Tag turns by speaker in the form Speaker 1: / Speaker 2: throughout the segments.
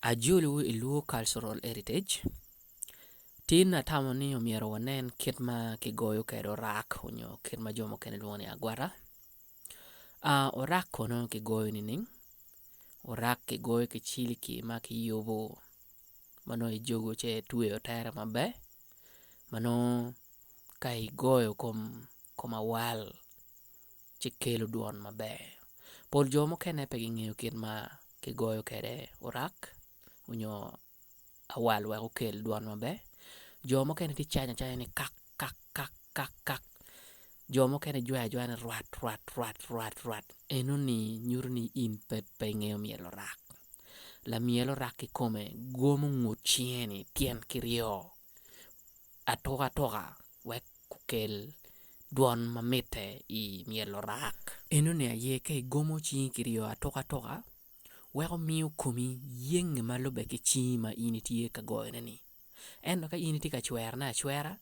Speaker 1: Ajolo i Luo Cultural Heritage tin atamo ni myero wanen kit ma kigoyo kwede orak nyo kit ma jo mukene lwongo ni agwata orak kono kigoyo nining? Orak kigoyo ki ciliki ma kiyubo ma nongo ijogo ci itweyo tere maber ma nongo ka igoyo kom awal ci kelo dwon maber. Pol jo mukene pe gingeyo kit ma kigoyo kwede orak nyo awal wek okel dwon maber. Jo mukene gicanyo acanya ni kak kak kak kak kak jo mukene gijwayo ajwaya ni rwat rwat rwat rwat rwat enoni nyuto ni in pe ingeyo myel orak. Lamyel orak kikome gomo ngut cinge ni tyen ki ryo. atukatuka wek gukel dwon ma mitte i myel lurak. Enoni aye ka igomo cingi ki ryo atukatuka weko miyo komi yenge ma lubbe ki cingi ma in itye ka goyone-ni. Ento ka in itye ka cwerone acwera,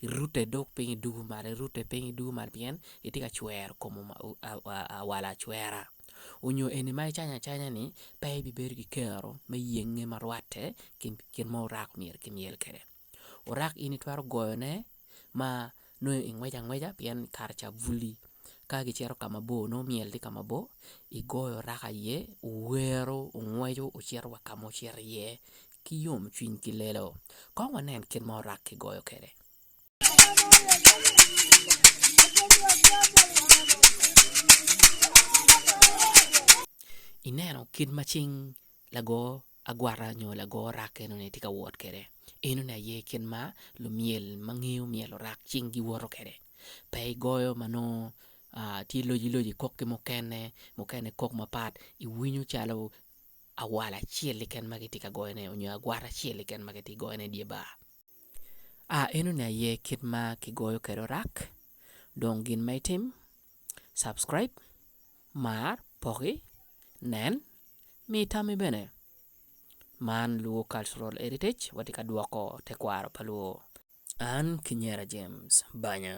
Speaker 1: irute dong piny idwogo malo, irute piny idwogo malo pien itye ka cwero kom awala acwera. onyo eni ma icanyo acanya ni pe ibibedo ki kero me yenge ma rwatte ki kit ma orak myero ki myel kwede, orak in itwero goyo ne ma nongo ingweco angweca pien kare ca buli ka gicito ka ma bor nongo myel tye ka ma bor igoyo orak aye owero ongweco ocito wa ka ma ocito iye ki yom cwiny ki lelo kong wanen kit ma orak ki goyo kwede. Ineno kit ma cing lago agwata nyo lago orak enoni tye ka wot kwede? Enoni aye kit ma lumyel ma ngeyo myel orak cing giwoto kwede. Pe igoyo ma nongo tye lojiloji ikok ki mukene, mukene kok mapat iwinyo calo awal acel keken ma kitye ka goyone nyo agwata acel keken ma kitye ka goyone i dye bar. A Eno ne aye kit ma ki goyo kwede orak dong gin ma itim subscribe mar poki nen mi itami bene man luo cultural heritage wa tye ka dwoko tekwaro pa luo an ki nyera James banya.